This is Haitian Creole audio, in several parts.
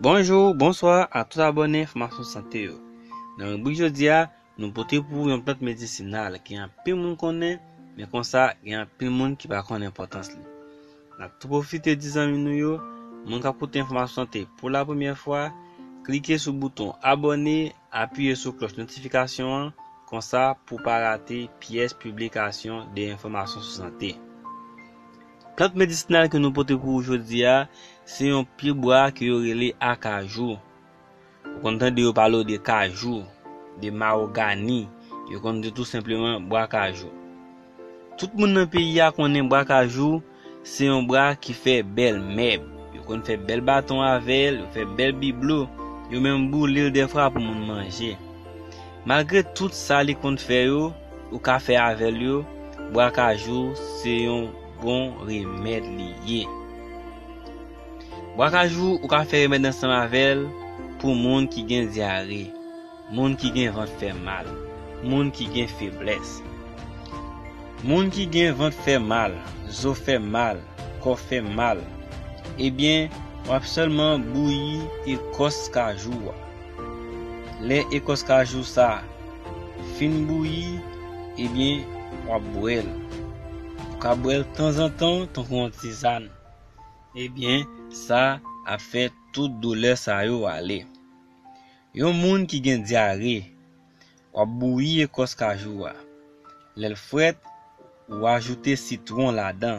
Bonjou, bonswa a tout abòne enfòmasyon sante yo. Nan ribrik jodi a, nou pote pou ou yon plant medisinal ke anpil moun konnen, men konsa gen anpil moun ki pa konnen enpòtans li. Nap tou pwofite di zanmi nou yo, moun kap koute enfòmasyon sante pou la premyè fwa, klike sou bouton abòne, apiye sou klòch notifikasyon an, konsa pou pa rate pyès piblikasyon de enfòmasyon sou sante. Plant medisinal ke nou pote pou ou jodi a, se yon pye bwa ke yo rele akajou. Ou konn tande yo pale w de kajou, de mawogani, yo konn di w tou senpleman bwa kajou. Tout moun nan peyi a konnen bwa kajou se yon bwa ki fè bèl mèb. Yo konn fè bèl baton avè l, yo fè bèl biblo, yo menm boule l dèfwa pou moun manje. Malgre tout sa li konn fè yo, ou ka fè avèl yo, bwa kajou se yon bon remèd li ye. Bwa kajou ou ka fè remèd ansanm avèl pou moun ki gen dyare, moun ki gen vant fè mal, moun ki gen feblès. Moun ki gen vant fè mal, zo fè mal, kò fè mal, ebyen wap sèlman bouyi ekòs kajou a. Lè ekòs kajou sa fin bouyi ebyen wap bwèl ou ka bwèl tanzantan tankou yon tizann ebyen sa ap fè tout doulè sa yo ale yon moun ki gen dyare wap bouyi ekòs kajou a lèl frèt ou ajoute sitwon ladan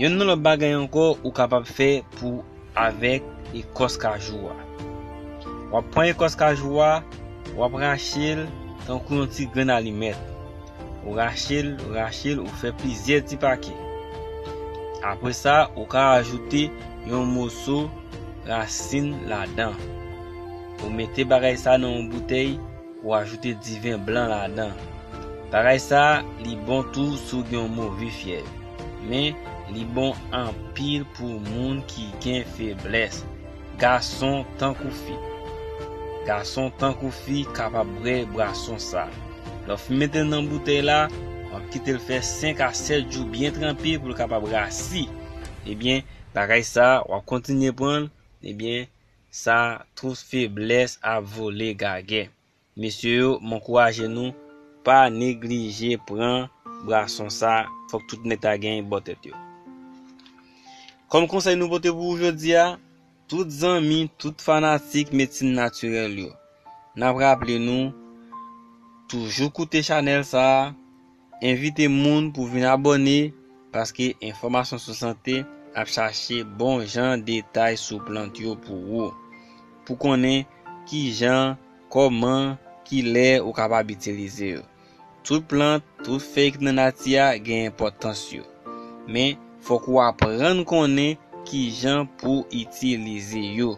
Yonn nan lòt bagay ankò ou kapab fè pou avèk ekòs kajou a. Wap pran ekòs kajou a, wap rachel tankou yon ti grenn alimèt. Ou rachel, ou rachel, ou fè plizyè ti pake. Apre sa ou ka ajoute yon moso rasin ladan. Ou mete bagay sa nan yon boutèy. Ou ajoute diven blan ladan. Bagay sa li bon tou si w gen yon move fyèv. Men, li bon anpil pou moun ki gen feblès, gason tankou fi. Gason tankou fi kapab bwè bwason sa. Lè w fin mete l nan boutèy la, w ap kite l fè 5 a 7 jou byen tranpe pou l kapab rasi. Ebyen, bagay sa w ap kontinye pran l, ebyen, Sa tout feblès ap vole gagè. Mesye yo m ankouraje nou pa neglije pran brason sa fòk tout nèg ta gen bò tèt yo. Kòm konsèy nou pote pou ou jodi a, tout zanmi, tout fanatik medsin natirèl yo, nap raple nou toujou koute chanèl sa. Envite moun pou vin abòne paske enfòmasyon sou sante ap chache bon jan detay sou plant yo pou ou. Pou konnen kijan, kòman, kilè ou kapab itilize yo. Tout plant, tout fèy ki nan nati a gen enpòtans yo. Men, fòk ou aprann konnen kijan pou itilize yo.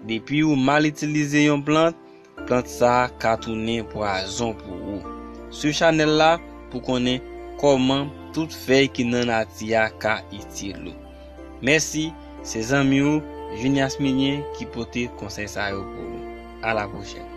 Depi ou mal itilize yon plant, Plant sa ka tounen pwazon pou ou. Swiv chanèl la pou konnen kòman tout fèy ki nan nati a ka itil ou. Mèsi, se zanmi ou Junias Milien ki pote konsèy sa yo pou ou. A la pwochèn!